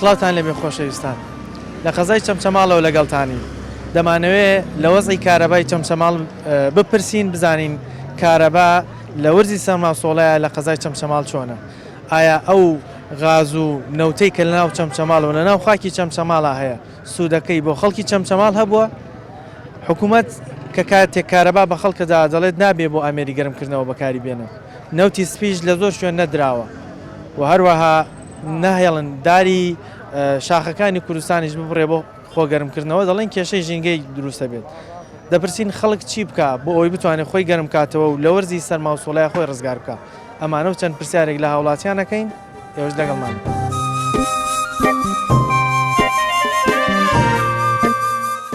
سڵاوتان لەبێ خۆشەویستان لە قەزای چەمچەماڵەوە لەگەڵتانی دەمانەوێ لە وەزی کارەبای چەمچەماڵ بپرسین بزانین کارەبا لە وەرزی سەرما سۆڵەیا لە قەزای چەمچەماڵ چۆنە؟ ئایا ئەو غاز و نەوتەی کە لەناو چەمچەماڵ و لەناو خاکی چەمچەماڵا هەیە سوودەکەی بۆ خەڵکی چەمچەماڵ هەبووە؟ حکوومەت کە کاتێک کارەبا بە خەڵک دەدات دەڵێت نابێت بۆ ئامێری گەرمکردنەوە بەکاری بێنن، نەوتی سپیش لە زۆر شوێن نەدراوە و هەروەها ناهێڵن داری شاخەکانی کوردستانیش ببڕێ بۆ خۆگەرمکردنەوە دەڵێن کێشەی ژینگەی دروست دەبێت، دەپرسین خەڵک چی بکا بۆ ئەوەی بتوانێت خۆی گەرم بکاتەوە و لە وەرزی سەرما و سۆڵەیا خۆی ڕزگار بکا؟ ئەمانە و چەند پرسیارێک لە هاوڵاتیان ئەکەین، ئێوەش لەگەڵمان بن.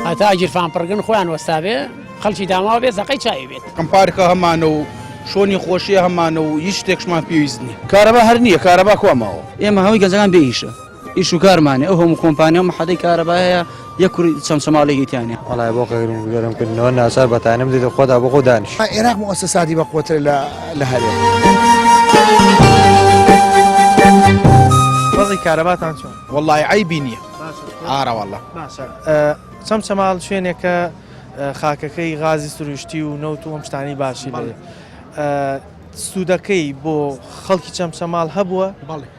هەتا گیرفان پڕگن خۆیان وەستابێ خەڵکی داماو بێ زەقەی چاوی بێت. ئەم پارکە هەمانە و شۆنی خۆشیە هەمانە و هیچ شتێکشمان پێویست نیە. کارەبا هەر نیە کارەبا کوا ماوە. ئێمە هەمووی گەنجەکان بێ ئیشە. ئیش و کارمانێ ئەو هەموو کۆمپانیا و محەدەی کارەبا هەیە یەک کوڕی چەمچەماڵێکی تیانە وەڵای بۆ قەیرم و گەرم کردنەوە ناچار بە تانەم دێتە خۆدا بۆ خۆ دانیش عێراق موسەساتی بەقوەتر لە لە هەرێم وەزی کارەباتان چۆن وەڵای عیبی نییە ئارە وەڵە باشە چەمچەماڵ شوێنێکە خاکەکەی غازی سروشتی و نەوت و ئەم شتانی باشی بڵێ سوودەکەی بۆ خەڵکی چەمچەماڵ هەبووە بەڵێ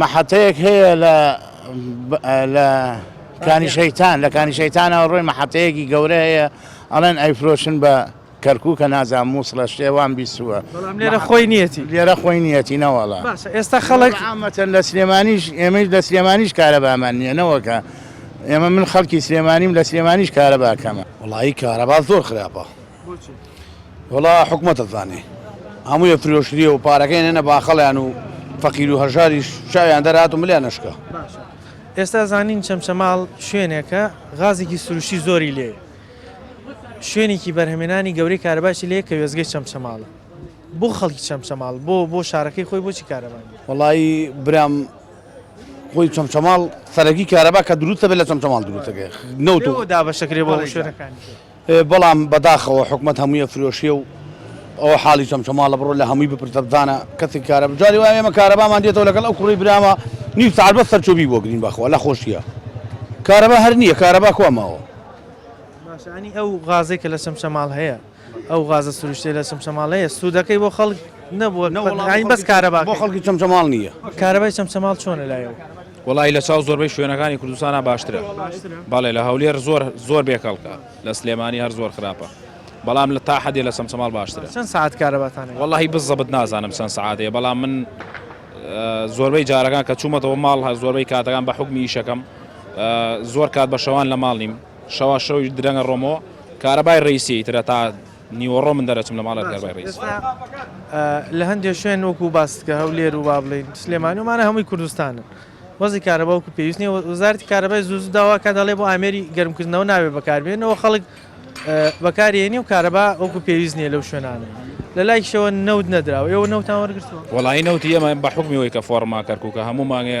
مەحەتەیەک هەیە لە لە کانی شەیتان لە کانی شەیتانەوە ڕۆی مەحەتەیەکی گەورە هەیە ئەڵێن ئەیفرۆشن بە کەرکووکە نازان مووسڵە شتێ وام بیستووە بەڵام لێرە خۆی نیەتی لێرە خۆی نیەتی نەوەڵە باشە ئێستا خەڵک ئامەتەن لە سلێمانیش ئێمەش لە سلێمانیش کارەبامان نییە نەوەکە ئێمە من خەڵکی سلێمانیم لە سلێمانیش کارەباکەمە وڵی کارەبا زۆر خراپە وەڵا حکومەت ئەزانێ هەموویە فرۆشریە و پارەکەی نەنە باخەڵیان و فەقیر و هەژاریش چاویان دەرات و ملیان نشکە ئێستا زانین چەمچەماڵ شوێنێکە غازێکی سروشتی زۆری لێ شوێنێکی بەرهەمێنانی گەورەی کارەباشی لێ کە وێزگەی چەمچەماڵە بۆ خەڵکی چەمچەماڵ بۆ بۆ شارەکەی خۆی بۆچی کارەبان وڵایی برام خۆی چەمچەماڵ سەرەکی کارەبا کە دروستە بێت لە چەمچەماڵ دروستەکە نەوت دابەشەکرێ بۆ شوێنەکانی بەڵام بەداخەوە حکومەت هەمووی ئەفرۆشێ و ئەوە حاڵی چەمچەماڵە بڕۆ لە هەمووی بپرسە بزانە کەسێک کارە بجاری وایە ئێمە کارەبامان دێتەوە لەگەڵ ئەو کوڕی برامە نیو ساعت بەس سەرچۆبی بۆ گرین بەخوا لە خۆشیە کارەبا هەر نییە کارەبا کوا ماوە باشانی ئەو غازێک کە لە چەمچەماڵ هەیە ئەو غازە سروشتێ لە چەمچەماڵ هەیە سوودەکەی بۆ خەڵک نەبووە نەوەڵاین بەس کارەبا بۆ خەڵکی چەمچەماڵ نییە کارەبای چەمچەماڵ چۆنە لایەوە وەڵایی لە چاو زۆربەی شوێنەکانی کوردستانا باشترە بەڵێ لە هەولێر زۆر زۆر بێ کەڵکە لە سلێمانی هەر زۆر خراپە بەڵام لە تا حەدێ لە چەمچەماڵ باشترە چەند ساعت کارەباتانە وەڵی بزەبت نازانم چەند سعاتەیە بەڵام من زۆربەی جارەکان کە چوومەتەوە ماڵ هە زۆربەی کاتەکان بە حکمی یشەکەم زۆر کات بە شەوان لە ماڵ نیم شەوا شەوی درەنگە ڕۆمەوە کارەبای ڕیسی ترە تا نیوەڕۆ من دەرئەچم لە ماڵێ ڕگەر بای ڕیز. ئێستا لە هەندێ شوێن وەکو باست کە هەولێر و با بڵێین سلێمانی و مانە هەمووی کوردستانن وەزی کارەبا وەکو پێویست نیە وەزارەتی کارەبای زوو زوو داوا کە دەڵێ بۆ ئامێری گەرمکردنەوە ناوێ بەکاربێنەوە خەڵک بەکارێنی و کارەبا وەکو پێویست نیە لەو شوێنانە لە لایکشەوە نەوت نەدراوە ئێوە نەوتان وەرگرتووە وەڵایی نەوتی ئێمە بە حکمی وەی کە فۆڕما کەرکووکە هەموو مانگێ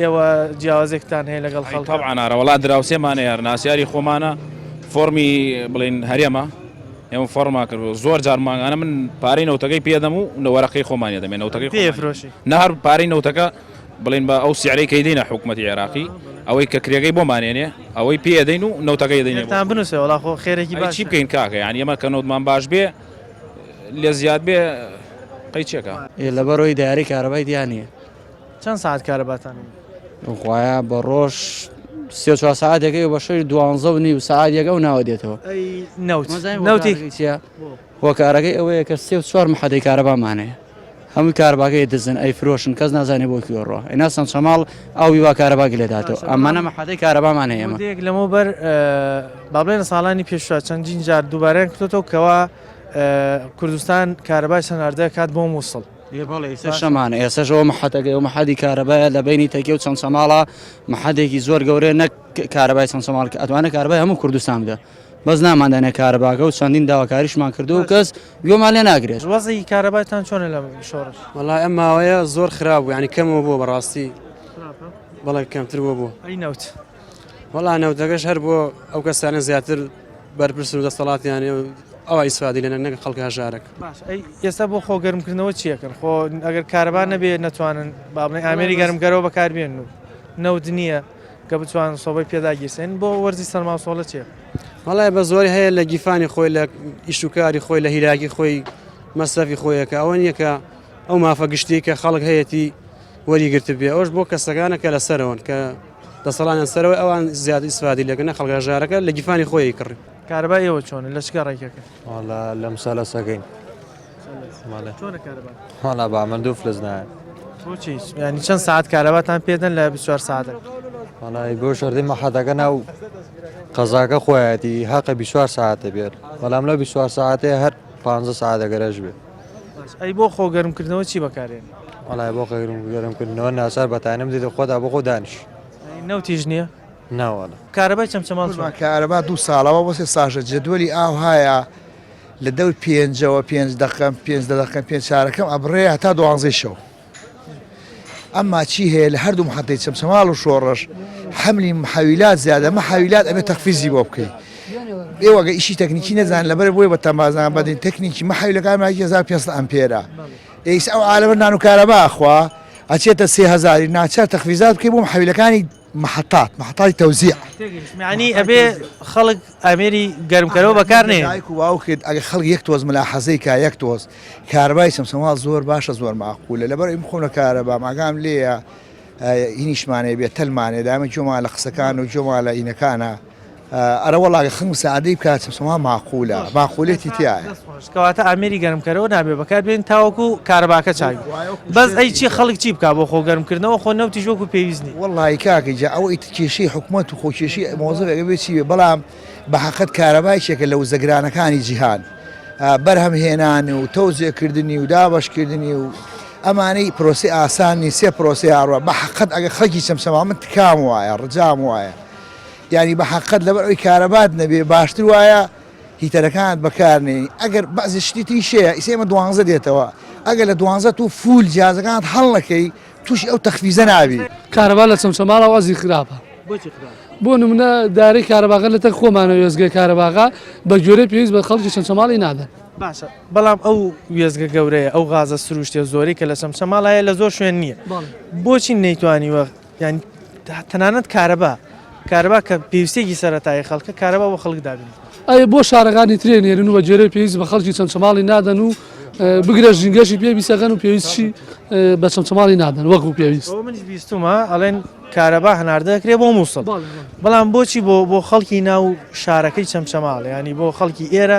ئێوە جیاوازێکتان هەیە لەگەڵ خەڵک؟ تەبعەن ئارا وەڵا دراوسێمانە یار ناسیاری خۆمانە فۆڕمی بڵین هەرێمە ئێمە فۆڕما کرد زۆر جار مانگانە من پارەی نەوتەکەی پێدەم و لە وەرەقەی خۆمانە دەمێن نەوتەکەی پێفرۆشی نەهر پارەی نەوتەکە بڵین بە ئەو سیعرەی کەی دینە حکوومەتی عێراقی ئەوەی کە کرێگەی بۆ مانێنێ ئەوەی پێدەین و نەوتەکەی دەین تا بنووسێ وڵا خۆ خێرەکی باشی بکەین کاکە یان ئێمە کە نەوتمان باش بێ لە زیاد بێ قەی چێکە لەبەرەوەی داری کارەبای دیانە چەند سەعات کارەباتان هەیە؟ خوایە بە ڕۆژ سێ چوار سەعاتێکەکەی و بە شەوی دوانزە و نیو سەعات یەکە و ناوە دێتەوە نەوتی چیە هۆکارەکەی ئەوەیە کە سێ و چوار محەدەی کارەبامانەیە هەموو کارباگەی دزن ئەی فرۆشن کەس نازانێ بۆ کوێڕۆ ئەنا سەند شەماڵ ئەوی وا کارەباگی لێداتەوە ئەمانە محەدەی کارەبامان هەیە ئەمە یەک لەمە بەر بابلێنە ساڵانی پێشوە چەندین جار دووبارەیان کتۆتەوە کەەوە کوردستان کارەبای سەناردە کات بۆ مووسڵ شەمانە ئێسەش ئەوە محەتەکەی و محەدی کارەبایە لە بینی تەکێ و چەند سەماڵە محەدێکی زۆر گەورەیە نەک کارەبای چەند سەماڵ کە ئەتوانە کارەبای هەموو کوردستان بدە بەس ناماندانە کارەباکە و چەندین داواکاریشمان کردو و کەس گوێمان لێ ناگرێت وەزی کارەبایتان چۆنە لە شۆڕش وڵای ئەم ماوەیە زۆر خراپ بوو ینی کەمەوە بووە بەڕاستی بەڵێ کەمتر بووە بوو ئەی نەوت. وەڵا نەوتەکەش هەر بۆ ئەو کەسانە زیاتر بەرپرس و دەسەڵاتیانێ ئەوە ئیسفادی لەە نەگە خەڵک هەژارک ئێستا بۆ خۆ گەرمکردنەوە چیەکەن خۆ ئەگەر کارەبا نەبێ ناتوانن بابنی ئامێری گەرمگەرەوە بەکاربێن و نەوت نییە کە بچوان سۆبەی پێداگیرسێن بۆ وەرزی سەرماسۆڵە چێ مەڵای بە زۆری هەیە لە گیفانی خۆی لە ئیشوکاری خۆی لە هیراگی خۆی مەسەفی خۆیەکە ئەوە نیەکە ئەو مافە گشتی کە خەڵک هەیەی وەری گرتبێ ئەوش بۆ کەسەکانە کە لەسەرەوەن کە دەسەڵانیان سەرەوەی ئەوان زیاد ئیسفادی لەگەنە خەڵک هەژارەکە لە گیفانی خۆی کڕی کارەبا ئێوە چۆنە لە چگە ڕێکەکە والا لەم سالە سەگەین هەڵا بە من دوو فلس نایە ینی چەند ساعت کارەباتان پێدەن لە 24 ساعت وڵی بۆ شردی مەحەتەکە ناو قەزاکە خۆیەتی هەقە 24 ساعتە بێت بەڵام لە 24 ساعتێ هەر 15 ساعتەگەرەش بێت بەس ئەی بۆ خۆ گەرم کردنەوە چی بەکارێنی؟ وەڵای بۆ خۆ گەرم کردنەوە ناچار بە تانە بدەیتە خۆتا بۆ خۆ دانیش. ئەی نەوتیش نیە؟ نا وەڵا. کارەبای چەمچەماڵ چۆنە؟ کارەبا دوو ساڵەوە بۆ سێ ساژە جەدوەلی ئاو هایە لە دەور پێنجەوە پێنج دەقەم پێنج دە دەقەم پێنج چارەکەم ئەبڕێ هەتا دوانزەی شەو. ئەمما چی هەیە لە هەردوو محەتەی چەمچەماڵ و شۆڕش حەملی محەویلات زیادە محەویلات ئەبێ تەخفیزی بۆ بکەی ئێوە گە ئیشی تەکنیکی نەزان لەبەر بۆی بە تەمازان بەدەین تەکنیکی محەویلەکان ماکی 1500 ئەمپێرە ئێس ئەو عالەمە نان و کارەبا ئەخوا ئەچێتە سێ هەزاری ناچار تەخفیزات بکەی بۆ محەویلەکانی محطات محطای تەوزیع یعنی ئەبێ خەڵک ئامێری گەرمکەرەوە بەکار نێ دایک و باوکت ئەگە خەڵک یەک تۆز ملاحەزەی کا یەک تۆز کارەبای سەمسەماڵ زۆر باشە زۆر ماقولە لەبەر ئەوی خۆم لە کارەبام ئاگام لێیە ئینیشمانەیە بێ تەلمانێ دامە جۆمان لە قسەکان و جۆمان لە ئینەکانە ئەرەوەڵا خنگ سادەی بکە چەسوما ماقولە ماقولێتی تایە. دەست خۆش کەواتە ئامێری گەرمکەرەوە نابێ بەکار بێنین تاوەکو کارەباکە چاک بێ وایە وەکو بەس ئەی شێتی. چی خەڵک چی بکا بۆ خۆ گەرمکردنەوە خۆ نەوتیش وەکو پێویست نی. وەڵایی کاکە گیان ئەوە ئیتر کێشەی حکومەت و خۆ کێشەی مۆزەفێک ئەبێ چی بێ بەڵام بەحەقت کارەبا یەکێکە لە وزە گرانەکانی جیهان بەرهەم هێنان و تەوزێ کردنی و دابەش کردنی و ئەمانەی پرۆسەی ئاسان نی سێ پرۆسەی هاڕوا بەحەقت ئەگەر خەڵکی چەمچەماڵ من تکام وایە ڕجام وایە یانی بە حەقت لەبەر ئەوی کارەبات نەبێ باشتر وایە هیتەرەکانت بەکار نێی ئەگەر بەعزی شتی تریش هەیە ئیسە ئێمە دوانزە دێتەوە ئەگەر لە دوانزە تو فول جیازەکانت هەڵ نەکەی تووشی ئەو تەخفیزە نابی. کارەبا لە چەمچەماڵەوە ئەزی خراپە بۆچی خراپە؟ بۆ نمونە دارەی کارەباغە لە تەک خۆمانە وێستگەی کارەباغا بە گوێرەی پێویست بە خەڵکی چەمچەماڵی نادەن. باشە بەڵام ئەو وێستگە گەورەیە ئەو غازە سروشتیە زۆرەی کە لە چەمچەماڵ هەیە لە زۆر شوێن نییە بۆچی نەیتوانیوە یانی تەنانەت کارەبا کارەبا کە پێویستێکی سەرەتایی خەڵکە کارەبا بۆ خەڵک دابین. ئەی بۆ شارەکانی ترێ نێرن و بە گوێرەی پێویست بە خەڵکی چەمچەماڵی نادەن و بگرە ژینگەشی پێ بیسەکەن و پێویستشی بە چەمچەماڵی نادەن وەکو پێویست منش بیستمە ئەڵێن کارەبا هەناردە دەکرێت بۆ مووسڵ بەڵام بۆچی بۆ بۆ خەڵکی ناو شارەکەی چەمچەماڵ ینی بۆ خەڵکی ئێرە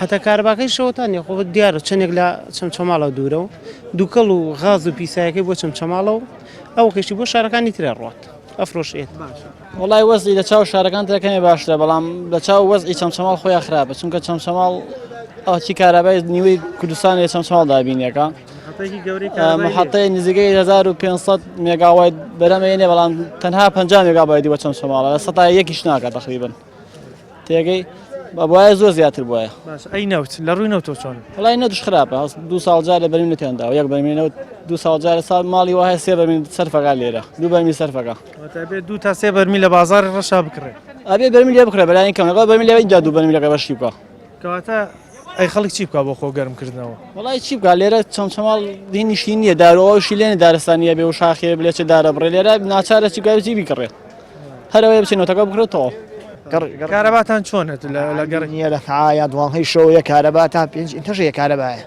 هەتا کارەباکەی شەوەتانیە خۆ دیارە چەندێک لە چەمچەماڵە دوورە و دووکەڵ و غاز و پیسایەکەی بۆ چەمچەماڵە و ئەو کەشی بۆ شارەکانی ترە ڕات ئەفرۆشێت وڵای وەزی لە چاو شارەکان ترەکەی باشترە بەڵام لە چاو وەزی چەمچەماڵ خۆیان خراپە چونکە چەمچەماڵ ئەوچی کارابای نیوەی کوردستان لە چەمچەماڵ دابینەکە محطەی نزیگەی 1500 مێگاوای بەرەمەێنێ بەڵام تەنها 50 مێگابایدی بە چەمچەماڵە لە سەتا یەکیش ناکە تقریبن تێگەی بەبواە زۆر زیاتر بواە باش ئەی نەوت لە ڕووی نەوتۆ چۆن وڵی نەتش خراپە هەست دو ساڵ جارە بەرین نتێندا و یەک بەمینەوت دو ساڵ جارە ساڵ ماڵی وایە سێ بەمین سەرفەکە لێرە دو بەرمی سەرفەکە واتابێت دوو تا سێ بەرمی لە بازار ڕەشا بکڕێت ئەبێ بەرمی لێ بکرە بەلای کەم لەگەڵ بەرمی لەوەی جادو بەرمی لەگە بەشی بکە کەواتە ئەی خەڵک چی بکە بۆ خۆ گەرمکردنەوە وڵی چی بکە لێرە چەم چەماڵ دی نیشتین نیە دارەوەشی لێنە دارستانیە بێ و شاخێ بلێ چ دارە بڕێ لێرە ناچارە چی گەوزی بیکڕێت هەر ئەوەیە بچێ نۆتەکە بکڕێ و تەواو. کارەباتان چۆنە لە گەڕەکی؟ نییە لە سەعایا دوانزەی شەوەیە کارەبا تا پێنج ئینتەشەیە کارەبایە.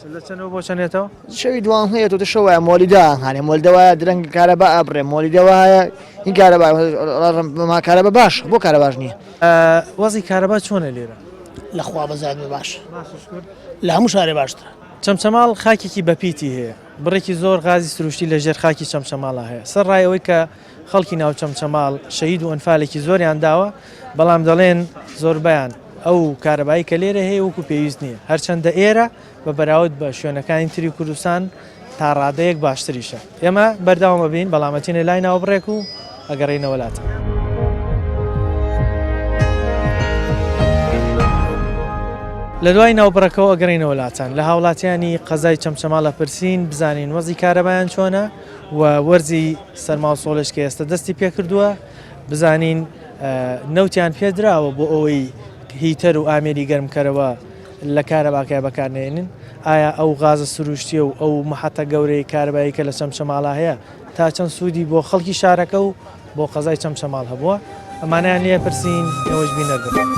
باشە لە چەندەوە بۆ چەندێتەوە؟ شەوی دوانزەیە تۆ شەوایە مۆلیدا هەنێ مۆلیدا وایە درەنگ کارەبا ئەبڕێ مۆلیدا وایە هین کارەبا ما کارەبا باش بۆ کارە باش نییە. وەزعی کارەبا چۆنە لێرە؟ لە خوا بەزات بێ باشە. باشە شکور. لە هەموو شارێ باشترە. چەمچەماڵ خاکێکی بەپیتی هەیە، بڕێکی زۆر غازی سروشتی لەژێر خاکی چەمچەماڵا هەیە، سەرڕای ئەوەی کە خەڵکی ناو چەمچەماڵ شەهید و ئەنفالێکی زۆریان داوە، بەڵام دەڵێن زۆربەیان ئەو کارەبایی کە لێرە هەیە وەکو پێویست نییە، هەرچەندە ئێرە بە بەراود بە شوێنەکانی تری کوردستان تا ڕادەیەک باشتریشە. ئێمە بەردەوام ئەبین، بەڵام ئەچینە لای ناوبڕێک و ئەگەڕێینەوە لاتان. لە دوای ناوبڕەکەوە ئەگەڕێینەوە لاتان، لە هاوڵاتیانی قەزای چەمچەماڵ ئەپرسین بزانین وەزعی کارەبایان چۆنە؟ و وەرزی سەرما و سۆڵێش کە ئێستا دەستی پێکردووە بزانین نەوتیان پێدراوە بۆ ئەوەی هیتەر و ئامێری گەرمکەرەوە لە کارەباکای بەکارنێنن ئایا ئەو غازە سروشتیە و ئەو محەتە گەورەی کاربایی کە لە چەمچەماڵا هەیە تا چەند سوودی بۆ خەڵکی شارەکە و بۆ قەزای چەمچەماڵ هەبووە ئەمانیان لێ پرسین ئێوەش بینەر بن.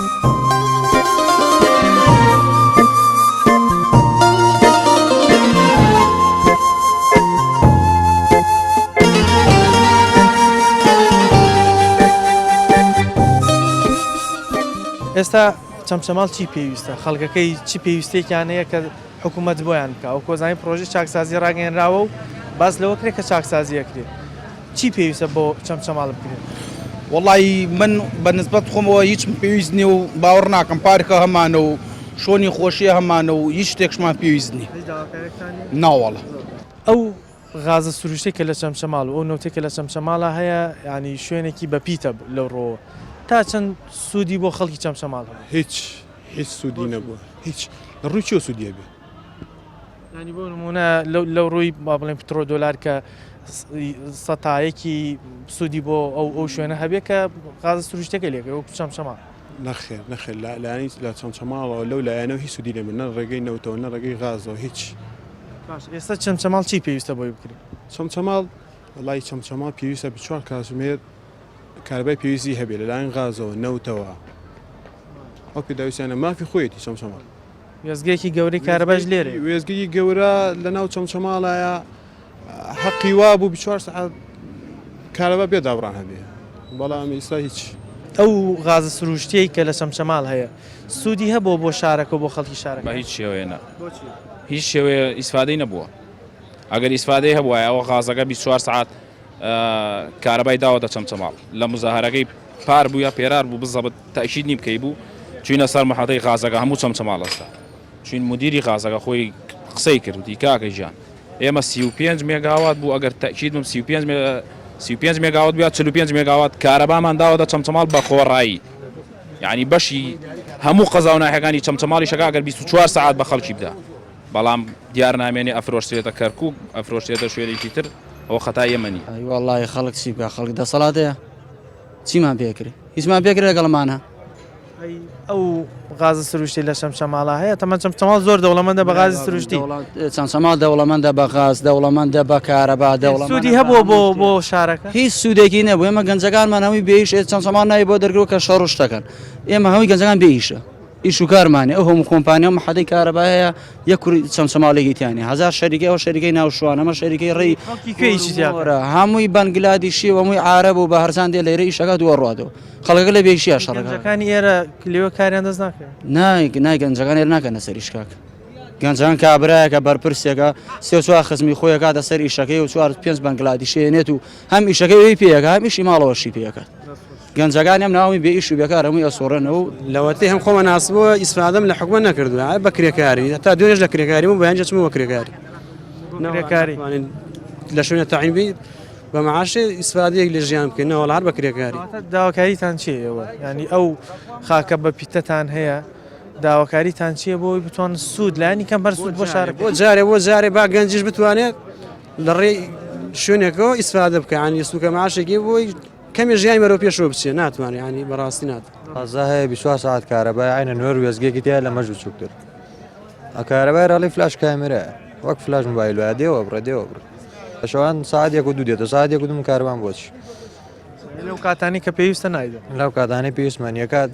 ئێستا چەمچەماڵ چی پێویستە خەڵکەکەی چی پێویستێکیانەیە کە حکومەت بۆیان بکا وەکو ئەزانین پرۆژەی چاکسازی ڕاگەیەنراوە و باس لەوە کرێ کە چاکسازی ئەکرێ چی پێویستە بۆ چەمچەماڵ بکرێ؟ وەڵایی من بە نسبەت خۆمەوە هیچم پێویست نیە و باوەڕ ناکەم پارکە هەمانە و شۆنی خۆشیە هەمانە و هیچ شتێکشمان پێویست نیە هیچ داواکاریەکتان نیە؟ نا وەڵا. ئەو غازە سروشتەی کە لە چەمچەماڵ و ئەو نەوتەی کە لە چەمچەماڵا هەیە یانی شوێنێکی بە پیتە لەو ڕووەوە تا چەند سوودی بۆ خەڵکی چەمچەماڵ هەبوو؟ هیچ. هیچ سودی نەبووە هیچ لە ڕووی چۆ سودیە بێ ینی بۆ نمونە لەو ڕووی با بڵێن پترۆ دۆلار کە سەتایەکی سوودی بۆ ئەو ئەو شوێنە هەبێت کە غاز سروشتەکە لێگە وەکو چەم چەما نەخێر نەخێر لە لایانی لە چەند چەماڵەوە لەو لایەنەوە هیچ سودی لێمە نە ڕێگەی نەوتەوە نە ڕێگەی غازەوە هیچ ئێستا چەند چەماڵ چی پێویستە بۆی بکرێت چەند چەماڵ وڵی چەند چەماڵ پێویستە بچوار کاتژمێر کارەبای پێویستی هەبێت لەلایەن غازەوە، نەوتەوە، ئەو پێداویستیانە مافی خۆیەتی چەمچەماڵ. وێستگەیەکی گەورەی کارەبایش لێرەیە. وێستگەی گەورە لەناو چەمچەماڵایە، هەقی وابوو بیست و چوار سەعات کارەبا بێ دابڕان هەبێت، بەڵام ئیستا هیچ. ئەو غازە سرووشتییەی کە لە چەمچەماڵ هەیە، سوودی هەبووە بۆ شارەکە و بۆ خەڵکی شارەکە؟ بە هیچ شێوەیە نا. بۆچی؟ هیچ شێوەیە ئیسفادەی نەبووە. ئەگەر ئیسفادەی هەبوایە، ئەوە غازەکە بیست و چوار سەعات. کارەبای داوەتە چەمچەماڵ لە مزاهەرەکەی پار بوویە پێرار بوو بزەبت تەشید نیم کەی بوو چوینە سەر محەتەی غازەکە هەموو چەمچەماڵ ئەستا چوین مدیری غازەکە خۆی قسەی کردی کاکە ژیان ئێمە 35 مێگاوات بوو ئەگەر تەکید بم 35 مێگا 35 مێگاوات بیا 45 مێگاوات کارەبامان داوەتە چەمچەماڵ بە خۆڕایی یعنی بەشی هەموو قەزا و ناحەکانی چەمچەماڵی شەکا گەر 24 سعات بە خەڵکی بدا بەڵام دیار نامێنێ ئەفرۆشرێتە کەرکوک ئەفرۆشرێتە شوێنێکی تر ئەوە خەتای ئێمە نیە. ئەی وەڵڵاهی خەڵک چی بکا خەڵک دەسەڵات هەیە چیمان پێ کرێ هیچمان پێ کرێ لەگەڵمان هە. ئەی ئەو غازە سروشتی لە چەمچەماڵا هەیە تەمەن چەمچەماڵ زۆر دەوڵەمەندە بە غازی سروشتی چەمچەماڵ دەوڵەمەندە بە غاز دەوڵەمەندە بە کارەبا دەوڵەمەند سودی هەبووە بۆ بۆ شارەکە هیچ سوودێکی نەبوو ئێمە گەنجەکانمان هەمووی بێیش چەمچەماڵ ناوی بۆ دەرگرو کە شەڕ و شتەکەن ئێمە هەمووی گەنجەکان بێ ئیشە. ئیش و کارمان نیە ئەو هەموو کۆمپانیا و محەدەی کارەبا هەیە یەک کوڕی چەمچەماڵێکی تیا نیە هەزار شەریکەی ئەوە شەریکەی ناو شوان ئەمە شەریکەی ڕێی خەڵکی کوێ ئیشی تیا کورە هەمووی بەنگلادیشی و هەمووی عارەب و بە هەرزان دێ لێرە ئیشەکە دووە ڕوادەوە خەڵکەکە لە بێشیە شەڕەکە گەنجەکانی ئێرە لێوە کاریان دەست ناکەن نایک نای گەنجەکان هێر ناکەنە سەر ئیشکاک گەنجان کابراایەکە بەرپرسێکە سێ چوار خزمی خۆی کاتە سەر ئیشەکەی و چوار پێنج بەنگلادیشێنێت و هەم ئیشەکەی پێەکە هەمیشی ماڵەوەشی پێەکە گەنجەکان هەم ناوەی بێ ئیش و بێکار هەمووی ئەسوڕێنەوە و لەوەتەی هەم خۆمە ناسبووە ئیسفادەم لە حکومە نەکردووە ئەوە بە کرێکاری هەتا دوێنێش لە کرێکاری بوو بەیانجە چمەوە کرێکاری کرێکاری لە شوێنە تەعین بی بە معاشێ ئیسفادەیەک لە ژیان بکەین نەوەڵ هەر بە کرێکاری داواکاریتان چی ئێوە ینی ئەو خاکە بە پیتەتان هەیە داواکاریتان چییە بۆی بتوان سوود لانی کەم هەر سوود بۆ شار بۆ جارێ بۆ جارێ با گەنجش بتوانێت لە ڕێی شوێنێکەوە ئیسفادە بکەیان یسوکە معاشێکی بۆی کەمێ ژیانی بەرەو پێشەوە بچێ ناتوانێ یانی بەڕاستی نات قەزا هەیە 24 ساعت کارەبای عینە نوێر وێزگێکی تیا لە مەژ بچووکتر ئەکارەبای ڕاڵی فلاش کامێرە وەک فلاش موبایل وایە دێوە بڕە دێوە بڕ شەوان ساعتێک و دوو دێتە ساعتێک و دوم کاروان بۆچ لەو کاتانی کە پێویستە نایدە لەو کاتانی پێویستمان یەکات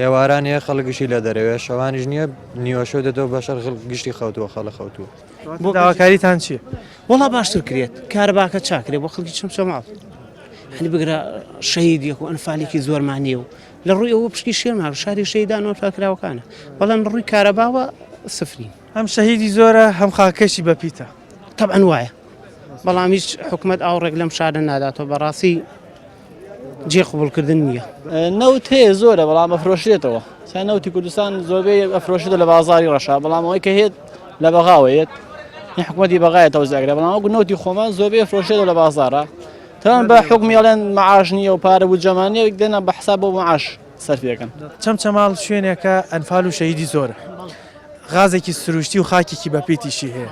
ئێواران یە خەڵگشی لە دەرەوێت شەوانیش نییە نیوەشە دەتەوە بەشەر گشتی خەوتووە خەڵە خەوتووە بۆ داواکاریتان چیە وڵا باشتر کرێت کارەباکە چاکرێ بۆ خەڵکی چم چۆماڵ هەنی بگرە شەید یەک و ئەنفالێکی زۆرمانە و لە ڕووی ئەوە پشکی شێمان شاری شەیدان و فاکراوەکانە بەڵام ڕووی کارەباوە سفری هەم شەهیدی زۆرە هەم خاکەشی بەپیتە تەبەن وایە بەڵام هیچ حکوومەت ئاوڕێک لەم شارە ناداتەوە بەڕاستی جێ قبوڵکردن نییە. نەوت هەیە زۆرە بەڵام ئەفرۆشرێتەوە سا نەوتی کوردستان زۆربەی ئەفرۆشێتە لە بازاری ڕەشا بەڵام ئەوەی کە هێت لە بەغاوەیەت حکوومەتی بەغایە تەوزاگرە بەڵام وەکو نەوتی خۆمان زۆربەی فرۆشێتە لە بازارە تەوان بە حکومی ئەڵێن معاش نییە و پارە و جەمانەیە دێنە بە حساب بۆ معاش سەرف دەکەن چەمچەماڵ شوێنێکە ئەنفال و شەهیدی زۆرە غازێکی سروشتی و خاکێکی بەپیتیشی هەیە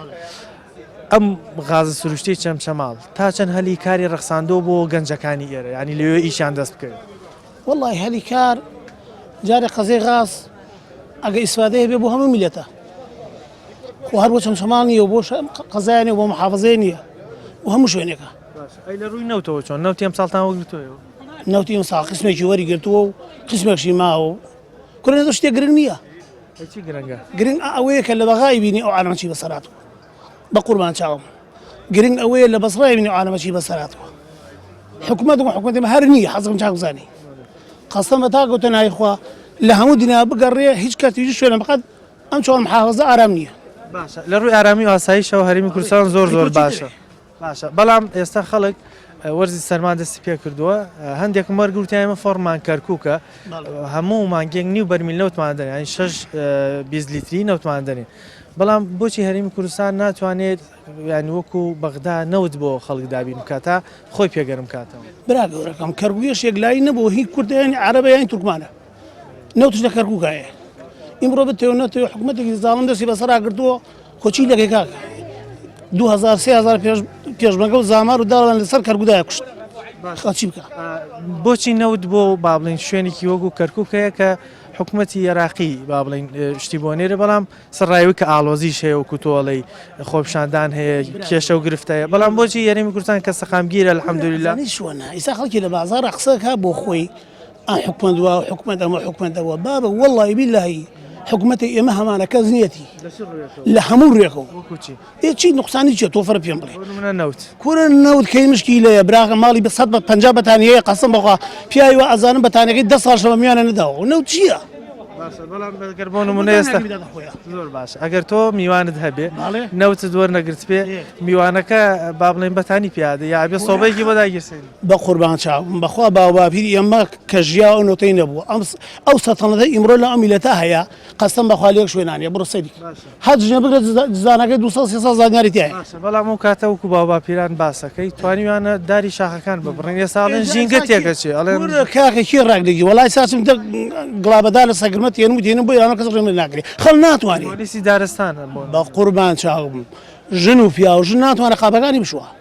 ئەم غازە سروشتیەی چەمچەماڵ تا چەند هەلی کاری ڕەخساندووە بۆ گەنجەکانی ئێرە یانی لەوێ ئیشیان دەست بکەوێت؟ وەڵڵاهی هەلی کار جارێ قەزێ غاز ئەگە ئیسفادەیە بێ بۆ هەموو میلەتە خۆ هەر بۆ چەمچەماڵ نییە و بۆ قەزای نیە بۆ محافظەیە نییە و هەموو شوێنێکە ئەی لە ڕووی نەوتەوە چۆن نەوتی ئەم ساڵتان وەگرتوەوە نەوتی ئەم ساڵ قسمێکی وەری گرتووە و قسمێکشی ماوە و کورە نەوتە شتێ گرنگ نییە گرنگ ئە ئەوەیە کە لە بەغای بینی ئەو عالەمە چی بەسەر هاتووە بە قوربان چاوم گرنگ ئەوەیە لە بەسڕای بینی ئەو عالەمە چی بەسەر هاتووە حکومەت و حکومەتی مە هەر نییە حەزم چاک بزانی قەستەم بە تاکو تەنای خوا لە هەموو دنیا بگەڕێ هیچ کەس هیچ شوێنە بقەت ئەم چۆن محافظە ئارام نییە باشە لە ڕووی ئارامی و ئاسایشەوە هەرێمی کوردستان زۆر زۆر باشە باشە بەڵام ئێستا خەڵک وەرزی سەرما دەستی پێکردووە هەندێکم وەرگوتی ئێمە فۆڕمان کەرکووکە هەموو مانگێک نیو بەرمیل نەوتمان دەێن ئەین شش بیست لیتری نەوتمان دەێن بەڵام بۆچی هەرمی کوردستان ناتوانێت یانی وەکو بەغدا نەوت بۆ خەڵک دابین بکاتە خۆی پێگەرم کاتەوە برا گەورەکەم کەرگوێش یەکلایی نەبوو هی کوردیان عربیان تورکمانە نەوتش لە کەرکووکا هەیە ئیمڕۆ بتەوێت نەتەوێت حکوومەتێکی زاڵم دەستی بەسەرا گرتووە کۆچی لەکەی کاک 2000 پێشمەگە و زامار و داڵان لەسەر کەرگودای کوشت خەچی بکە بۆچی نەوت بۆ با بڵین شوێنێکی وەکو کەرکک هەیە کە حکوومەتتی یێراقی با بڵین شتی بۆ نێرە بەڵام سڕایوی کە ئالۆزیش هەیە و کوتۆڵی خۆپشاندان هەیە کێشە و گرفتەیە بەڵام بۆچی یاریمی کوردستان کە سەقامگیرە الحمدللا شوە ئیسا خەڵکی لە بازارە قسەکە بۆ خۆی ئەم حکومەت وا حکومەت ئەمە حکومەتە وە بابە وەڵی بیلایی حکوومەتی ئێمە هەمانە کەس نیەتی لە هەموو ڕێکەوە چی نقصانی چێت تۆ فەر پێم بڵێ کورە نەوت کەی مشکی لەیە براغە ماڵی بە سەد بە پ بەتانەیە قەسم بخوا پیاوی وە ئەزانم بەتانەکەی ده ساڵ شەوە میانە نەداوە و نەوت چییە؟ گەر بۆ نمونە ئێستا زۆر باش ئەگەر تۆ میوانت هەبێ نەوت زۆر نەگرت پێ میوانەکە با بڵێن بەتانی پیادە یا بێ سۆبەیەکی بۆ داگیرسێن بەقوربان چاوم بەخوا باوباپیری ئێمە کە ژیا ئەو نۆتەی نەبوو ئەم ئەو سەتەنەتە ئیمرۆ لە ئەم میلەتە هەیە قەسەم بەخوا لێک شوێنانە بڕۆ سەیری هەر جنێ بگرە دزانەکەی 200 300 زانیاری تیا بەڵام ئەو کاتە وەکو باوباپیران باسەکەی توانیوانە داری شاخەکان ببڕن ئێستا ئەڵێن ژینگە تێکە چێ ئەڵێن کاکە کی ڕاک دەگی وەڵای ساچم دە گڵابەدا لە سەگرمە تێنم و دێنم بۆ ئێرانە کەس ڕێمە ناگرێ خەڵ ناتوانێت پۆلیسی دارستانە بە قوربان چاوم ژن و پیاو ژن ناتوانێت قاپەکانی بشووە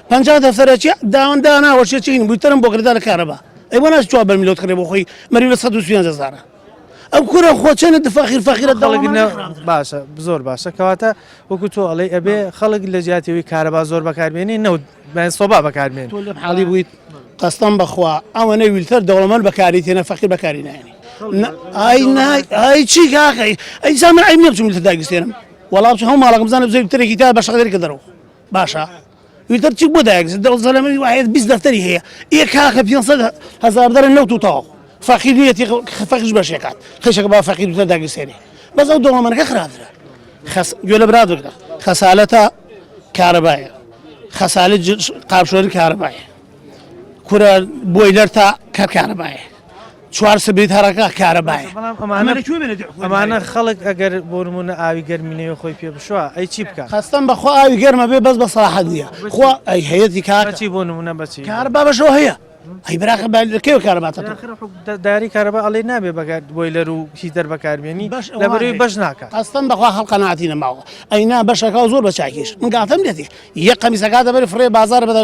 پەنجا دەفتەرە چیە داوان دانا وەشێ چین بووی تەرم بۆ گردا لە کارەبا ئەی بۆ ناچ چوار بەرمیلۆت کڕێ بۆ خۆی مەری لە سەد و سوێن هەزارە ئەو کورە خۆچەنە دفاخیر فەخیرە خەڵک نە باشە زۆر باشە کەواتە وەکو تۆ ئەڵێ ئەبێ خەڵک لە جیاتیەوەی کارەبا زۆر بەکارمێنی نەوت بەیان سۆبا بەکارمێن تۆ لە حاڵی بوویت قەستەم بەخوا ئەوەنە ویلتەر دەوڵەمەند بەکاری تێنە فەخیر بەکاری نایێنی ئای نای ئای چی کاکەی ئەی زامن عیب نیە بچم لە داگیرسێنم وەڵام چ هەموو ماڵەکەم بزانم زەوی ترێکی تا بە شەقدەری کە دەرەوە باشە ویتر چی بۆ دایک دڵ زەلەمەوی وایە بیست دەفتەری هەیە ئێ کاکە پێ هزار دەرە نەوت و تەواو فەقیر نیەتی فەقیش بەشێکات خشەکە با فەقیر بتە داگیرسێنێ بەس ئەو دەوڵەمەنەکە خراپترە خەس گوێ لە برا بگرە خەسالەتە کارەبایە خەسالە قاپشۆری کارەبایە کورە بۆیلەر تا کەر کارەبایە چوار سبیت هەرەکە کارەبایە بەڵام ئەمانە ئەمانە کوێ بێنێت حکومەت ئەمانە داوێت؟ خەڵک ئەگەر بۆ نمونە ئاوی گەرمی نەوێ خۆی پێ بشوە ئەی چی بکات قەستەم بەخوا ئاوی گەرمە بێ بەس بە سەراحەت نییە خوا ئەی هەیەتی کاکە بەچی بۆ نمونە بەچی کار بابەشەوە هەیە ئەی براخە با لەکەوێ کارەباتە تۆ داخرە حکوم- دا- داری کارەبا ئەڵێ نابێ بەگات بۆیلەر و هیتەر بەکاربیێنی بەش لە بەروی بەش ناکات قەستەم بەخوا خەڵ قەناعەتی نەماوە ئەینا بەشەکە و زۆر بە چاکیش من گاتەم لێتی یە قەمیسەکە دەبەری فڕێ بازار بەدە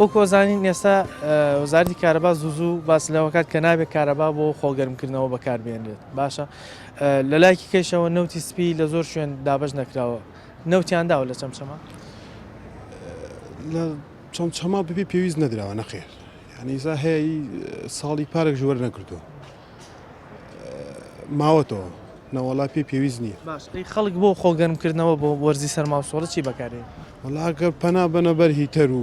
وەک ئەزانین ئێستا وەزارەتی کارەبا زوو زوو باس لەوە کات کە نابێت کارەبا بۆ خۆگەرمکردنەوە بەکاربێنرێت باشە لە لایکی کەشەوە نەوتی سپی لە زۆر شوێن دابش نەکراوە نەوتیانداوە لە چەمچەمە لە چەمچەما ببێ پێویست نەدراوە نەخێر ینیزا هەیە ساڵی پارێک ژوەر نەکردو ماوەتەوە نەوەڵا پێی پێویست نییە. باش ئەی خەڵک بۆ خۆ گەرم کردنەوە بۆ وەرزی سەرما و سۆڵە چی بەکاردێنی؟ وەڵا ئەگەر پەنا بەنە بەر هیتەر و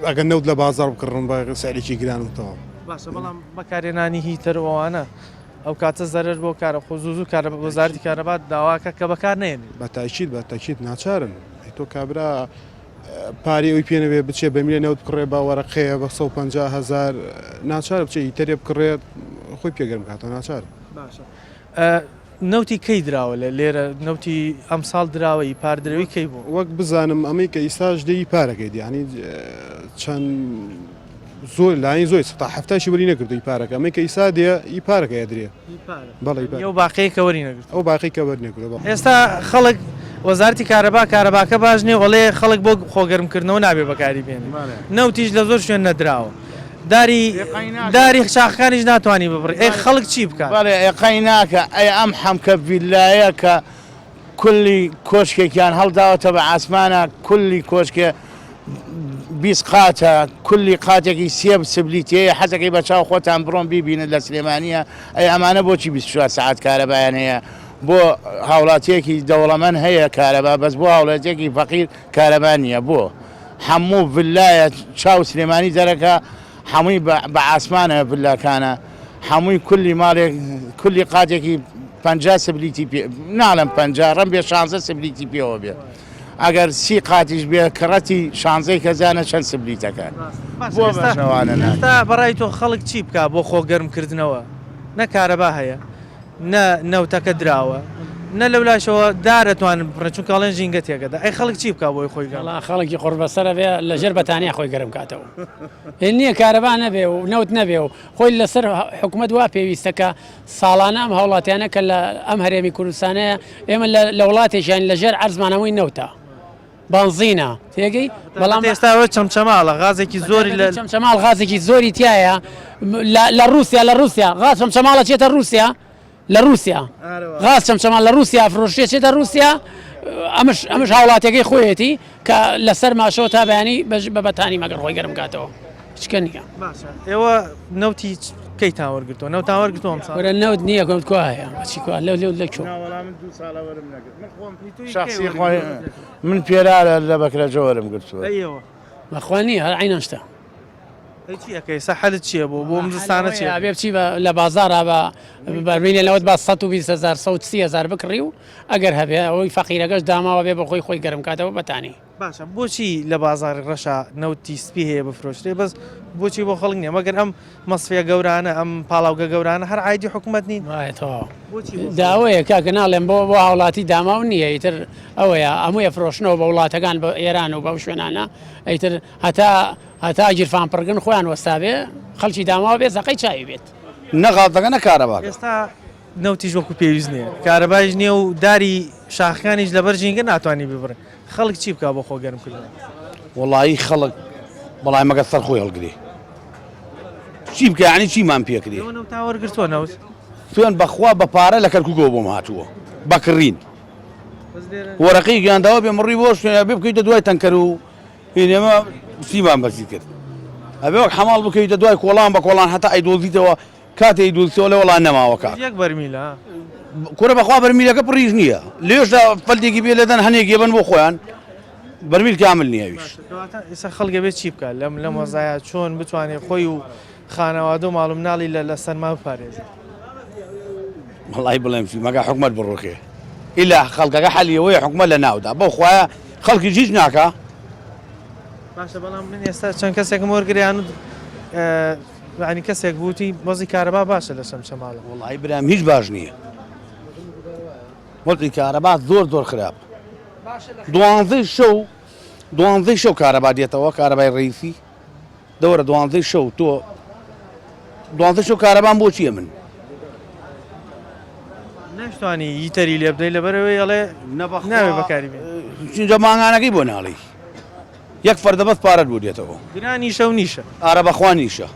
ئەگەر نەوت لە بازاڕ بکڕن بە سعرێکی گران و تەواو. باشە بەڵام بەکارێنانی هیتەر و ئەوانە ئەو کاتە زەرەر بۆ کارە خۆ زوو زوو کارە وەزارەتی کارەبات داواکە کە بەکار نەیەنێ. بە تاکید بە تاکید ناچارن ئەی تۆ کابرا پارەی ئەوی پێ نەبێ بچێ بە میلێ نەوت بکڕێ بە وەرەقەیە بە 150 هەزار ناچار بچێ هیتەرێ بکڕێت خۆی پێ گەرم بکاتەوە ناچار باشە نەوتی کەی دراوە لە لێرە نەوتی ئەمساڵ دراوە ئی پار درەوی کەی بوو وەک بزانم ئەمەی کە ئیساش دەی پارەکەی دیانی چەند زۆر لانی زۆی سەتا حەفتاشی وەری نەگرت و ئی پارەکە ئەمەی کە ئیسا دێ ئی پارەکە ئەدرێ بەڵێ ئی پارە یەو باقیەی کە وەری نەگرت. ئەو باقی کە وەر نەگرە بە. ئێستا خەڵک وەزارەتی کارەبا کارەباکە باش نیە و ئەڵێ خەڵک بۆ خۆ گەرم کردنەوە نابێ بەکاری بێنێ نەوتیش لە زۆر شوێن نەدراوە داری داری شاخەکانیش ناتوانی ببڕی ئەی خەڵک چی بکات. بەڵێ ئەی قەی ناکا ئەی ئەم حەمکە ڤیلایە کە. کلی کۆشکێکیان هەڵداوەتە بە عاسمانا کلی کۆشکێ بیست قاتە کلی قاتێکی سێ سبلی تێیە حەزەکەی بە چاو خۆتان بڕۆن بیبینن لە سلێمانیە ئەی ئەمانە بۆچی بیست و چوار سەعات کارەبایان هەیە بۆ هاوڵاتیەکی دەوڵەمەن هەیە کارەبا بەس بۆ هاوڵاتیەکی فەقیر کارەبا نییە بۆ هەموو ڤلایە چاو سلێمانی دەرەکە هەمووی بە عاسمانە ڤلاکانە. حەمووی کولی مالێک کولی قاتێکی پەنجا سبلیتی پێ ناڵم پەنجا ڕم بێ شانزە سبلیتی پێوە بێ ئەگەر سی قاتیش بێ کڕەتی شانزەی کەزانە چەند سبلیتەکان بۆ بەشەوانە ناتا بەڕای تۆ خەڵک چی بکە بۆ خۆ گەرمکردنەوە نە کارەبا هەیە نە نەوتەکە دراوە نە لەو لاشەوە دارەتوانن بڕێ چون کاڵێن ژینگە تێگەدا ئەی خەڵک چی بکە بۆی خۆی گەڵا خەڵکی قڕبەسەرە بێ لە ژێر بەتانیا خۆی گەرم کاتەوە نییە کارەبا نەبێ و نەوت نەبێ و خۆی لەسەر حکومەت وا پێویستە کە ساڵانە ئەم هاوڵاتیانە کە لە ئەم هەرێمی کوردستانەیە ئێمە لە وڵاتێکیان لەژێر عەرزمان هەمووی نەوتە بانزینە تێگەی بەڵام ئێستاەوە چەمچەماڵە غازێکی زۆری لە چەمچەماڵ غازێکی زۆری تایە لە رووسیا لە رووسیا غاچم چەماڵە چێتە رووسیا لە روسیا غاز چەمچەمال لە روسیا فرۆشتێ چێتە روسیا ئەمش ئەمش هاوڵاتەکەی خۆیەتی کە لەسەر ماشەوە تا بەیانی بە بەتانی مەگەر خۆی گەرم کاتەوە چکە نیە ئێوە نەوتی کەی تاوەرگتەوە نەو تاوەرگتوم ساە نەوت نییە گەوت کو هەیە بچی کو لەو لەو لەکو من پێرارە لە بەکرە جۆرم گرتووە بەخوانی هەر عینەشتا ئەی چی ئەکەی ئێستا حەلت چیە بۆ بۆ ئەم زستانە چی ئەکەی؟ ئەبێ بچی بە لە بازاڕا بە بەرمێلی نەوت با سەد و بیست هەزار سەد و سی هەزار بکڕی و ئەگەر هەبێ ئەوەی فەقیرەکەش داماوە بێ بە خۆی خۆی گەرم کاتەوە بەتانەی. باشە بۆچی لە بازاڕی ڕەشا نەوتی سپی هەیە بفرۆشرێ بەس بۆچی بۆ خەڵک نیە مەگەر ئەم مەسفیە گەورانە ئەم پاڵاوگە گەورانە هەر عایدی حکومەت نین؟ وایە تەواو بۆچی بۆ خەڵک؟ داوەیە کاکە ناڵێم بۆ بۆ هاوڵاتی داماو نیە ئیتر ئەوەیە هەمووی ئەفرۆشنەوە بە وڵاتەکان بە ئێران و بەو شوێنانە ئەیتر هەتا هەتا گیرفان پڕکن خۆیان وەستابێ خەڵکی داماو بێ زەقەی چاوی بێت نەغاڵ دەگە نە کارەبا ئێستا نەوتیش وەکو پێویست نییە کارەبایش نییە و داری شاخەکانیش لەبەر ژینگە ناتوانانی ببڕێ خەڵک چی بکە بۆ خۆ گەرم کردن وڵایی خەڵک بەڵای مەگە سەر خۆی هەڵگری چی بکەنی چیمان پێکری تاوەرگرتووە نەوت سوێن بەخوا بە پارە لە کەرکوگەوە بۆم هاتووە بەکڕین وەرەقی گیانداوە بێ مڕی بۆ شوێنە بێ بکەیتە دوای تەنکەر و هین ئێمە سیمان بەرزی کرد ئەبێ وەک حەماڵ بکەویتە دوای کۆڵان بە کۆڵان هەتا ئەیدۆزیتەوە کاتێ ئەیدۆزیتەوە ئەڵێ وەڵا نەماوە کاک یەک بەرمیلە کورە بەخوا بەرمیلەکە پڕیش نییە لێشدا فەلتێکی بێ لێدەن هەنێک یەبن بۆ خۆیان بەرمیل کامل نییەویش ئێستا خەڵکە بێت چی بکات لەم لەم وەزایە چۆن بتوانێت خۆی و خانەوادە و ماڵ و مناڵی لە لە سەرما بپارێزێت. وەڵای بڵێم فیلمەکە حکومەت بڕوخێ ئیلا خەڵکەکە حەلی ئەوەیە حکومەت لە ناودا بەو خوایە خەڵکیش هیچ ناکا. باشە بەڵام من ئێستا چەند کەسێکم وەرگریان و یانی کەسێک بووتی وەزی کارەبا باشە لە شەمشەماڵە وڵی برام هیچ باش نییە وەزی کارەبا زۆر زۆر خراپ دوانزەی شەو دوانزەی شەو کارەبا دێتەوە کارەبای ڕیسی دورە دوانزەی شەو تۆ دوانزە شەو کارەبان بۆ چییە من نەشتوانی یتەری لێ بدەین لەبەرەوەی ئەڵێ ناوێ بەکاری چونجە مانگانەکەی بۆ ناڵی یەک فەردەبەست پارەت بۆ دێتەوە گرانی شەو نیشە ئارە بەخوا نیشە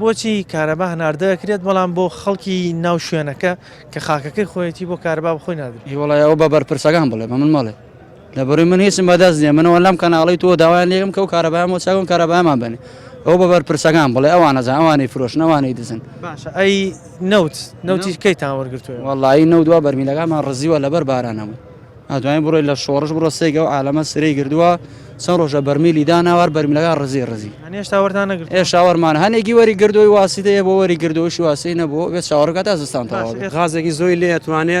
بۆچی کارەبا هەناردەکرێت بەڵام بۆ خەڵکی ناو شوێنەکە کە خاکەکەی خۆیەتی بۆ کارەبا بخۆی نادرێت هیوڵایەوە بە بەرپرسەکان بڵێ بە من ماڵێ لە بڕی من هیچم بەدەست نیە منەوە لەم کەناڵی تۆ داوایان لێکم کە و کارەبایان بۆ چاکن کارەبایمان بنێ ئەو بە بەرپرسەکان بڵێ ئەوان نەزان ئەوانەی فرۆشن ئەوانەی دزن باشە ئەی نەوت نەوتی کەیتان وەرگرتووە وەڵایی نەوت دوا بەرمیلەکانمان ڕزیوە لەبەر بارانەوە ئەتوانین بڕۆی لە شۆڕش بڕۆ سێگە و عالەمە سرەی گردووە چەند ڕۆژە بەرمیلی داناوار بەرمیلەکە ڕزی ڕزی هەنێ هێشتا وەرتان نەگرت ئێ شاوەرمان هەنێکی وەری گردووی واسیتەیە بۆ وەری گردۆشی واسی نەبوو بێت شاوەڕگات تا زستان باشە. تەواو غازێکی زۆی لێ توانێ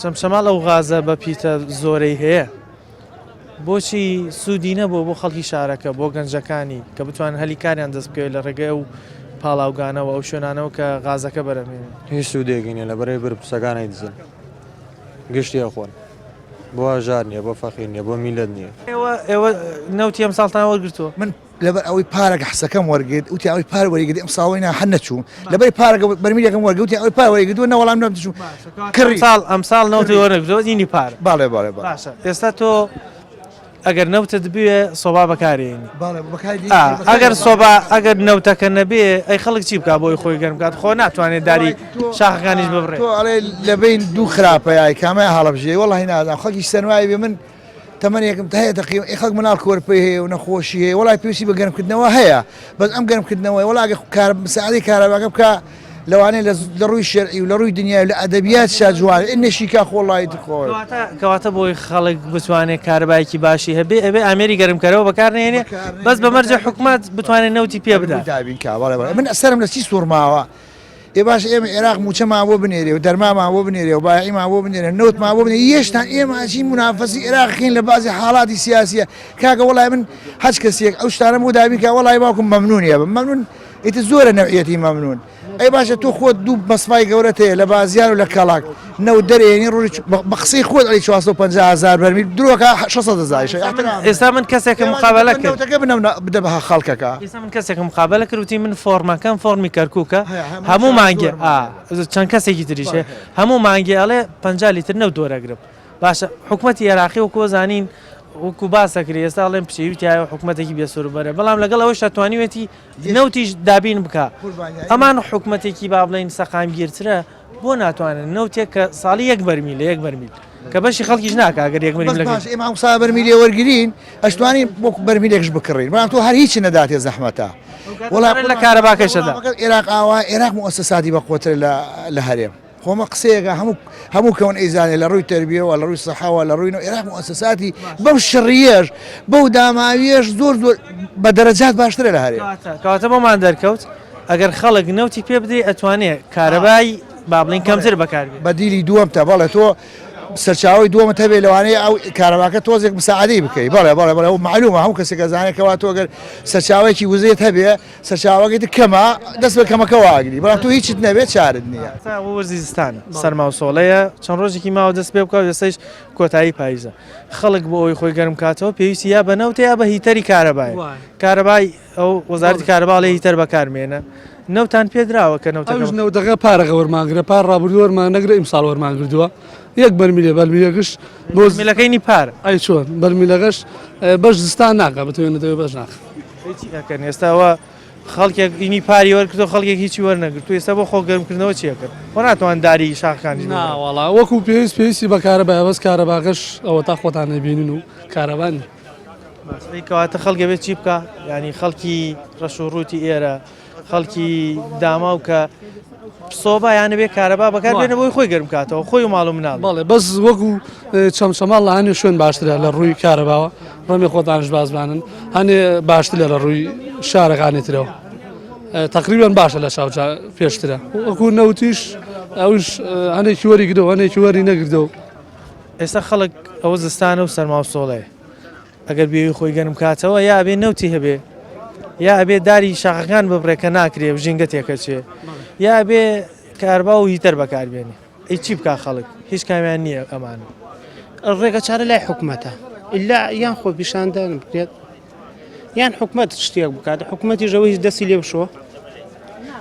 چەمچەماڵ ئەو غازە بە پیتە زۆرەی هەیە بۆچی سوودی نەبوو بۆ خەڵکی شارەکە بۆ گەنجەکانی کە بتوان هەلی کاریان دەست بکەوێت لە ڕێگەی ئەو پاڵاوگانەوە ئەو شوێنانەوە کە غازەکە بەرەمێنێ هیچ سوودێکی نیە لە بەرەی بر پسەکان ئەیدزن گشتی ئەخۆن بۆ هەژار نیە بۆ فەقیر نیە بۆ میلەت نیە ئێوە ئێوە نەوتی ئەمساڵتان وەرگرتووە من لەبەر ئەوەی پارەکە حسەکەم وەرگرت وتی ئەوی پار وەریگری ئەم ساڵی نا هەر نەچوو لەبەری پارەکە بەرمیلەکەم وەرگوتی ئەوی پار وەریگردو نەوەڵام نەم دچوو کڕی ساڵ ئەم ساڵ نەوتی وەرەگرۆزینی پار باڵێ باڵێ باشە ئێستا تۆ ئەگەر نەوتت بوێ سۆبا بەکارێنی ئەگەر سۆبا ئەگەر نەوتەکە نەبێ ئەی خەڵک چی بکە بۆی خۆی گەرم بکات خۆ ناتوانێت داری شاخەکانیش ببڕێ لەبین دوو خراپەیە کامە هەڵبژێ وڵی نازان خەکی سەرمای بێ من تەمەنێکم هەیە تەقریبا ئێ خەڵک مناڵ کۆرپەی هەیە و نەخۆشی هەیە وەڵای پێویستی بە گەرمکردنەوە هەیە بەس ئەم گەرمکردنەوەی وەڵا ئەگەر کار مساعدەی کارەباکە بکە لەوانەیە لە لە ڕووی شەرعی و لە ڕووی دنیای و لە ئەدەبیات شا جوان ئێ نەشیکا خۆ وەڵای تر خۆ کەواتە کەواتە بۆی خەڵک بتوانێت کارەبایەکی باشی هەبێ ئەبێ ئامێری گەرمکەرەوە بەکار نێنێ بەکار نەهێنێ. بەس بە مەرجێ حکومەت بتوانێت نەوتی پێ بدا دابین کا بەڵێ بەڵێ من سەرم لە چی سوڕماوە ئێ باشە ئێمە ئێراق مووچەمان بۆ بنێرێ و دەرمامان بۆ بنێرێ و بایەعیمان بۆ بنێرێ و نەوتمان بۆ بنێرێ یێشتا ئێمە ئەچین مونافەسی ئێراقین لە بازی حاڵاتی سیاسییە کاکە وەڵای من هەچ کەسێک ئەو شتانەم بۆ دابین کا وەڵای باوکم مەمنوونی ئەبم مەمنوون ئیتر زۆرە نەوعیەتی مەمنوون ئەی باشە تۆ خۆت دوو مەسمای گەورەت هەیە لە بازیان و لە کەڵاک نەوت دەرێنی ڕۆژی چ بە قسەی خۆت ئەڵێی چوار سەد و پەنجا هەزار بەرمیل درۆ کە شەش سەد هەزاریشە ئێستا من ئیحترام ئێستا من کەسێکم پێوان نیە مقابەلە بە کرد نەوتەکە بنەم نە بدە بە خەڵکەکە. ئێستا من کەسێکم مقابەلە کرد وتی من فۆڕمەکەم فۆڕمی کەرکوکە هەیە هەموو هەموو ساڵ مانگێ زۆرم ئا وەرەگرە. ئز چەند کەسێکی تریش هەیە بەڵێ هەیە. هەموو مانگێ ئەڵێ پەنجا لیتر نەوت وەرەگرم باشە حکومەتی ئێراقی وەکوو زانین وەکوو باس ئەکرێ ئێستا ئەڵێن پشێوی تیایە و حکومەتێکی بێ سەرو بەرە بەڵام لەگەڵ ئەوەیشا توانیوێتی یەک نەوتیش دابین بکا قوربان یا ئەمان ئیمە. حکومەتێکی با بڵێین سەقامگیرترە. بۆ ناتوانن نەوتێک کە ساڵی یەک بەرمیلە یەک بەرمیل کە بەشی خەڵکیش ناکا ئەگەر یەک بەرمیل لەگەر ئێمە ئەوسا بەرمیلێ وەرگرین ئەشتوانین وەکو بەرمیلێکش بکڕین بەڵام تۆ هەر هیچ نەداتێ زەحمەتە وڵات لە کارەباکەشەدا عێراق ئاوا عێراق موسەساتی بەقوەتر لە هەرێم خۆمە قسەیەەکە هەموو هەموو کەون ئەیزانێ لە ڕووی تربیەوە لە ڕووی سەحاوە لە ڕووی و عێراق موسەساتی بەو شڕیەش بەو داماویەش زۆر زۆر بە دەرەجات باشترە لە هەرێم کاتە بۆمان دەرکەوت ئەگەر خەڵک نەوتی پێ بدەی ئەتوانێ کارەبای با بڵین کەمتر بەکار بێ بەدیلی دووەم تە بەڵێ تۆ سەرچاوی دووەمە تەبێ لەوانەیە ئەو کارەباکە تۆزێک مساعدەی بکەی بەڵێ بەڵێ بەڵێ و معلومە هەم کەسێک گەزانێکەوە تۆگەر سەرچاوێکی وزێت هەبێ سەرچاوەکەی کەمە دەست بە کەمەکەەوە ئاگری بەڵام تو هیچت نەبێت چارت نییە وەرزیستان سەرماوسۆڵەیە چەند ڕۆژێکی ماوە دەست پێ بکە دەستش کۆتایی پاییزە خەڵک بۆ ئەوی خۆی گەرم کاتەوە پێویستی یا بەنەوتەیە بە هیتەری کارەبای کارەبای ئەو وەزارەتی کارەبا ئەڵێ هیتەر بەکارمێنە نەوتان پێدراوە کە نەوتەکە ئەویش نەوتەکە پارەکە وەرمانگرە پار ڕابردوو وەرمانەگرە ئیمساڵ وەرمانگردووە یەک بەرمیلێ بەرمیلەکەش بۆ ملەکەینی پار ئەی چۆن بەرمیلەکەش اه، بەش زستان ناکە بتوێنێتەوە بەش ناخ هیچی ئەکەن ئێستاوە خەڵکێک ئینی پاری وەرکردو خەڵکێک هیچی وەرنەگرتو ئێستا بۆ خۆ گەرمکردنەوە چیەکەن خۆ ناتوان داری شاخەکانیش بگرن. ناوەڵا وەکو پێویست پێویستی بە کارەبایە بەس کارەباکەش ئەوە تا خۆتان نەبینن و کارەبا نییە کەواتە خەڵک ئەبێت چی بکا ینی خەڵکی ڕەش و ڕووتی ئێرە خەڵکی داماو کە سۆبا یانە بێ کارەبا بەکار بێنە بۆی خۆی گەرم کاتەوە خۆی و ماڵم ناڵ بەڵێ بەس وەکو چەمچەماڵ لە هەنێ شوێن باشترە لە ڕووی کارەباوە ڕەمی خۆتانش بازبانن هەنێ باشتر لە لە ڕووی شارەکانی ترەوە تقریبان باشە لە چاوچ پێشترە وەکو نەوتیش ئەوش هەنێکی وەری گرەوە هەنێکی وەری نەگردەوە ئێستا خەڵک ئەوە زستانە و سەرما و سۆڵەیە ئەگەر بێوی خۆی گەرم کاتەوە یا ئەبێ نەوتی هەبێ یا ئەبێ داری شاخەکان ببڕێ کە ناکرێ و ژینگە تێکەچێ یا ئەبێ کاربا و هیتەر بەکاربێنێ ئی چی بکا خەڵک هیچ کامیان نییە ئەمان ڕێگە چارە لای حکومەتە ئللا یان خۆپیشاندان بکرێت یان حکومەت شتێک بکات حکوومەتیش ئەوەی دەستی لێ بشۆ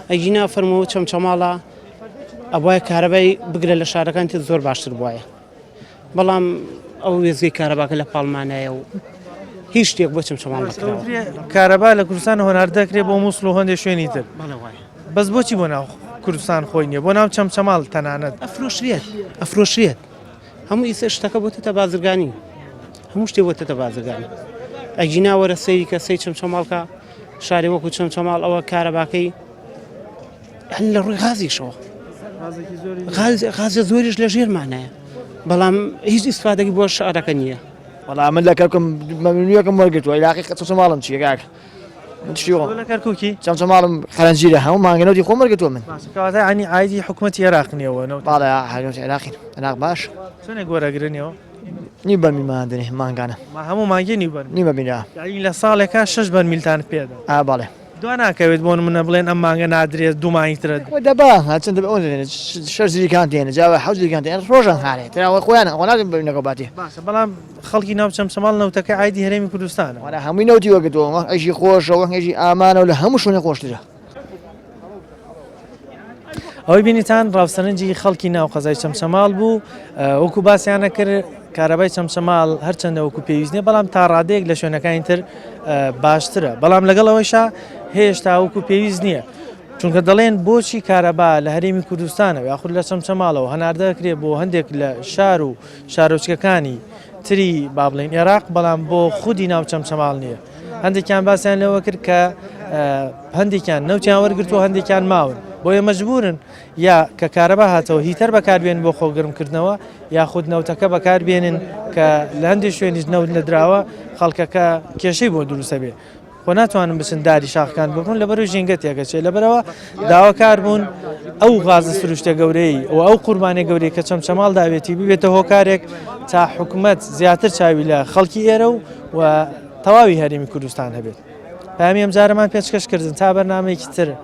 ئەگینا فەرمەوە چەمچەماڵە ئەوە کارەبای بگرە لە شارەکان تر زۆر باشتر بواە بەڵام ئەو وێزگەی کارەباکە لە پاڵمانایە و هیچ شتێک بۆ چەمچەماڵ کارەبا لە کوردستان هۆنار دەکرێ بۆ مووسڵ و هەندێک شوێنی تر بەس بۆچی بۆ ناو کوردستان خۆی نیە بۆ ناو چەمچەماڵ تەنانەت ئەفرۆشرێت ئەفرۆشرێت هەموو ئیسە شتەکە بۆتەتە بازرگانی هەموو شتێ بۆتەتە بازرگانی ئەگینا وەرە سەیری کە سەی چەمچەماڵکە شارێ وەکو چەمچەماڵ ئەوە کارەباکەی هەل لە ڕووی غازیشەوە غازە زۆریش لە ژێرمانایە بەڵام هیچ ئیسفادەی بۆ شارەکە نییە وەڵام من لە کەکم مەمنویەکەم وەرگتووە لاقی قەچەماڵم چیەکە شیۆ لە کەرکوکی جەمجەماڵم قەرەنجیرە هەموو مانگە نەوتی خۆم وەرگرتووە من باسکەواتە عنی عیدی حکوومەتی عێراق نیەوە نەوت باڵە هەرگەوت عێراقی عێراق باش چۆنێ گۆرەگرنیەوە نی بەرمی مادنێ مانگانە ما هەموو مانگی نیبەر نیمە بینرا یعنی لە ساڵێکە شش بەر میلتان پێدا ئا باڵێ دو ناکەوێت بۆن منە بڵێن ئەم مانگە نادرێت دوومانی ترە دەبا هەچن دەبێت ئەوەن دەێنێت شەر زیریکان دێنە جاوە حەوت زیریکان دێن ڕۆژان هاێت تراوە خۆیان ئەوە ناگەن بەینەکە باتی باشە بەڵام خەڵکی ناو چەمچەماڵ نەوتەکەی عایدی هەرێمی کوردستانە. وەلا هەمووی نەوتی وەرگرتووە وەک عیشی خۆشە وەک عیشی ئامانە و لە هەموو شوێنێک خۆشترە. ئەوەی بینیتان ڕاوسەرنجی خەڵکی ناو قەزای چەمچەماڵ بوو وەکو باسیانە کرد کارەبای چەمچەماڵ هەرچەندە وەکو پێویستنیە بەڵام تا ڕادەیەک لە شوێنەکانی تر باشترە بەڵام لەگەڵ ئەوەشا هێشتا وەکو پێویست نییە چونکە دەڵێن بۆچی کارەبا لە هەرێمی کوردستانە یاخود لە چەمچەماڵەوە هەناردەکرێ بۆ هەندێک لە شار و شارۆچکەکانی تری با بڵێین ئێراق بەڵام بۆ خودی ناو چەمچەماڵ نییە هەندێکیان باسیان لەوە کرد کە هەندێکیان نەوتیان وەرگرتو هەندێکیان ماون بۆیە مەجبورن یا کە کارەبا هاتەوە هیتەر بەکاربێن بۆ خۆگرمکردنەوە یاخود نەوتەکە بەکاربێنن کە لە هەندێک شوێنیش نەوت نەدراوە خەڵکەکە کێشەی بۆ دروستە بێ و ناتوانن بچن داری شاخەکان ببڕن لەبەرو ژینگە تێکەچێت لەبەرەوە داواکار بوون ئەو غازە سروشتە گەورەی و ئەو قوربانە گەورەی کە چەمچەماڵ داوێتی ببێتە هۆکارێک تا حکومەت زیاتر چاوی لە خەڵکی ئێرە و و تەواوی هەرێمی کوردستان هەبێت پامی ئەم جارەمان پێچکەشکردن تا بەرنمەیەکی تر